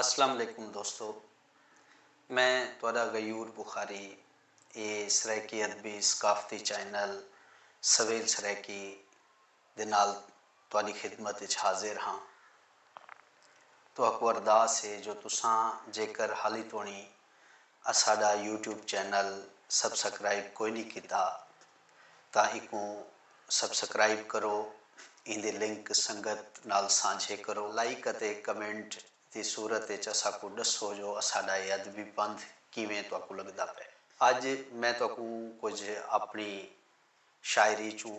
اسلام علیکم دوستو میں تہاڈا غیور بخاری اے سرائیکی ادبی ثقافتی چینل سویل سرائیکی دے نال تہاڈی خدمت اچ حاضر ہاں تہاکوں ارداس اے جو تساں جیکر حالی توڑیں اساڈا یوٹیوب چینل سبسکرائب کوئی نی کیتا تاں ایکوں سبسکرائب کرو ایندے لنک سنگت نال سانجھے کرو لائک اتے کمنٹ دی صورت اچ اساکوں ڈسو جو اساڈا اے ادبی پندھ کیویں تہاکوں لگدا پئے اج میں تہاکوں کجھ اپنی شاعری چوں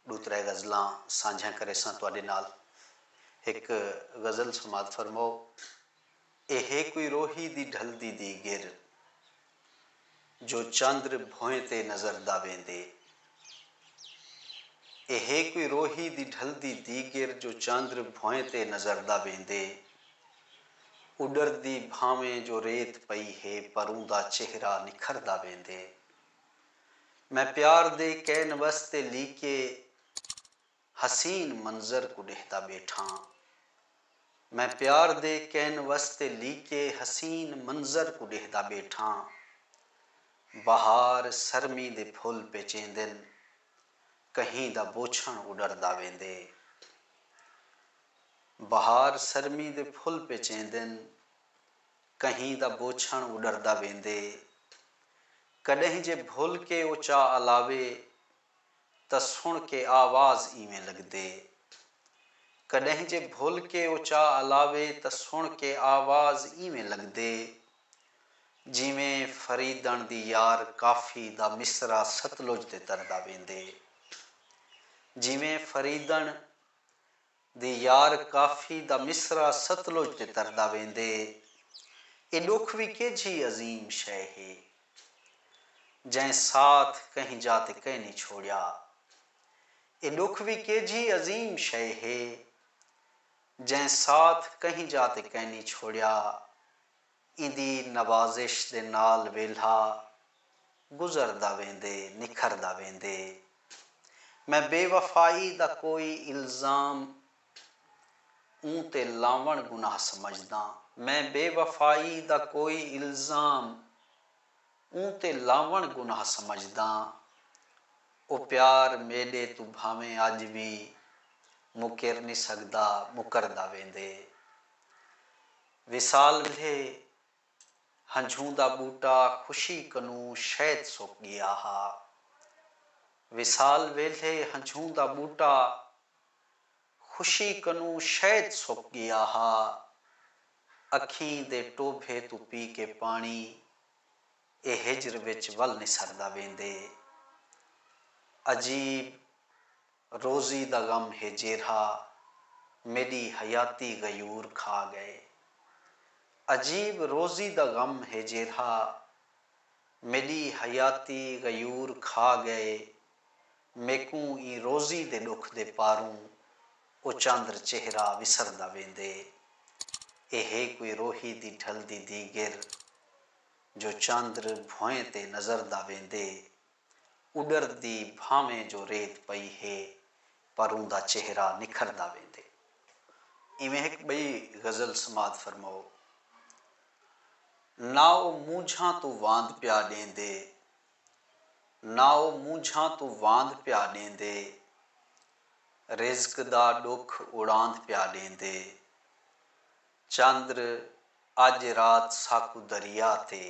ڈو ترے غزلاں سانجھیاں کریساں تہاڈے نال ہک غزل سماعت فرماؤ۔ اے ہے کوئی روہی دی ڈھلدی دی گر جو چندر بھوئیں تے نظر دا ویندے اے ہے کوئی روہی دی ڈھلدی دی گر جو چندر بھوئیں تے نظر دا ویندے اڈردی بھانویں جو ریت پئی ہے پر اوندا چہرہ نکھردا ویندے میں پیار دے کینوس تے لیکے حسین منظر کوں ݙیہدا ٻیٹھاں۔ میں پیار دے کینوس تے لیکے حسین منظر کوں ݙیہدا ٻیٹھاں۔ بہار سرمی دے پھل پیچیندن۔ کہیں دا بوچھݨ اݙردا ویندے۔ بہار سرمی دے پھل پیچیندن۔ کہیں دا بوچھݨ اݙردا ویندے۔ کݙہیں جے بھل کے او چا الاوے۔ تاں سݨ کے آواز ایویں لڳدے۔ کݙاہیں جے بھل کے اچا الاوے تاں سݨ کے آواز ایویں لڳدے جیویں فریدݨ دی یار کافی دا مصرع ستلج تے تردا ویندے۔ جیویں فریدݨ۔ دی یار کافی دا مصرع ستلج تے تردا ویندے اے ڈکھ وی کیجھی عظیم شے ہے جئیں ساتھ کہیں جا تے کینی چھوڑیا اے ڈکھ وی کیجھی عظیم شے ہے جئیں ساتھ کہیں جا تے کینی چھوڑیا ایندی نوازش دے نال ویلھا گزردا ویندے، نکھردا ویندے۔ میں بے وفائی دا کوئی الزام اوں تے لاوݨ گناہ سمجھداں۔ میں بے وفائی دا کوئی الزام اوں تے لاوݨ گناہ سمجھداں۔ او پیار میݙے توں بھانویں اڄ وی مکر نی سڳدا، مکردا ویندے۔ وصال ولھے ہنجھوں دا ٻوٹا خوشی کنوں شید سک ڳیا ہا۔ وصال ویلھے ہنجھوں دا ٻوٹا خوشی کنوں شید سک ڳیا ہا۔ اکھیں دے ٹوبھے توں پی کے پاݨی اے ہجر وچ ول نسردا ویندے۔ عجیب۔ روزی دا غم ہے جیرھا میݙی حیاتی غیور کھا ڳئے۔ عجیب روزی دا غم ہے جیرھا میݙی حیاتی غیور کھا ڳئے میکوں ایں روزی دے ݙکھ دے پاروں او چاندر چہرہ وسردا ویندے اے ہے کوئی روہی دی ڈھلدی دیگر جو چاندر بھوئیں تے نظردا ویندے۔ اڈردی بھانویں جو ریت پئی ہے پر اوندا چہرہ نکھردا ویندے۔ ایویں ہک ٻئی غزل سماعت فرماؤ۔ نہ او مونجھاں توں واند پیا ݙیندے نہ او مونجھاں توں واند پیا ݙیندے رزق دا ݙکھ اڑاند پیا ݙیندے۔ چندر اج رات ساکوں دریا تے۔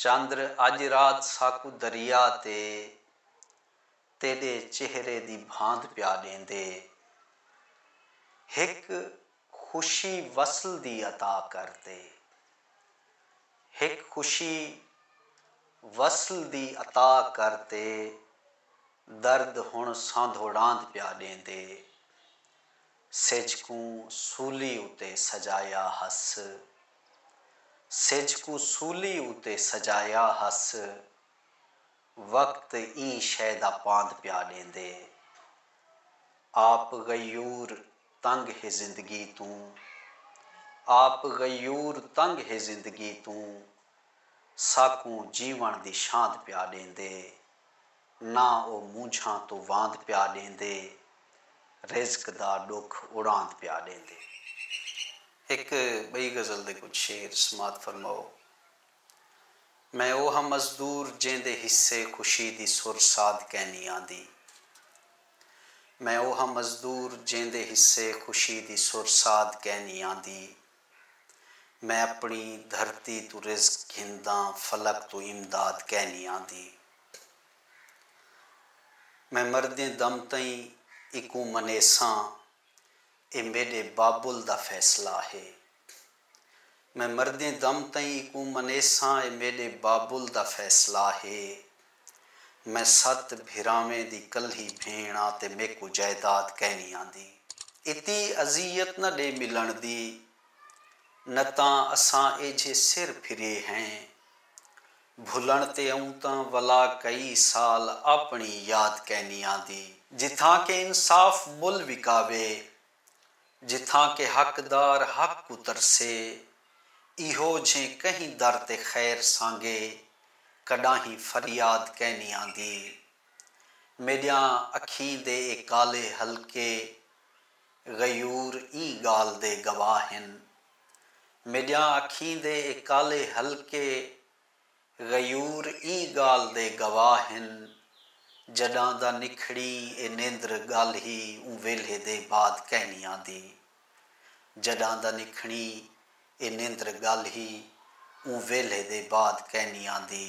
چندر اج رات ساکوں دریا تے تیڈے چہرے دی بھاند پیا ڈیندے۔ ہک خوشی وصل دی عطا کر تے۔ ہک خوشی وصل دی عطا کر تے درد ہن ساندھوڑاند پیا ڈیندے۔ سجھ کوں سولی اتے سجایا ہس۔ سجھ کوں سولی اتے سجایا ہس۔ وقت ایں شئے دا پاند پیا ݙیندے۔ آپ غیور تنگ ہے زندگی توں۔ آپ غیور تنگ ہے زندگی توں۔ ساکوں جیوݨ دی شاند پیا ݙیندے۔ نہ او مونجھاں توں واند پیا ݙیندے رزق دا ݙکھ اڑاند پیا ݙیندے ہک ٻئی غزل دے کجھ شعر سماعت فرماؤ میں او ہاں مزدور جیندے حصے خوشی دی سر ساد کینی آندی میں او ہاں مزدور جیندے حصے خوشی دی سر ساد کینی آندی میں اپݨی دھرتی توں رزق گھنداں فلک توں امداد کینی آندی میں مردیں دم تئیں ایکوں منیساں اے میݙے بابل دا فیصلہ ہے میں مردیں دم تئیں ایکوں منیساں اے میݙے بابل دا فیصلہ ہے۔ میں ست بھراویں دی کلھی بھیݨ آں تے میکوں جائیداد کائنی آندی۔ اتی اذیت نہ ݙے ملݨ دی، نہ تاں اساں ایجھے سر پھرے ہیں۔ بھلݨ تے اوں تاں ولا کئی سال آپݨی یاد کائنی آندی۔ جتھاں کہ انصاف مل وکاوے، جتھاں کہ حقدار حق کوں ترسے۔ ایہو جھیں کہیں در تے خیر سانگے کڈاہیں فریاد کینی آندی۔ میڈیاں اکھیں دے اے کالے حلقے غیور ایں گالھ دے گواہ ہن۔ میڈیاں اکھیں دے اے کالے حلقے۔ غیور ایں ڳالھ دے گواہ ہن جݙاں دا نکھڑی اے نیندر ڳالھ ہی اوں ویلھے دے بعد کینی آندی جݙاں دا نکھڑی اے نیندر ڳالھ ہی اوں ویلھے دے بعد کینی آندی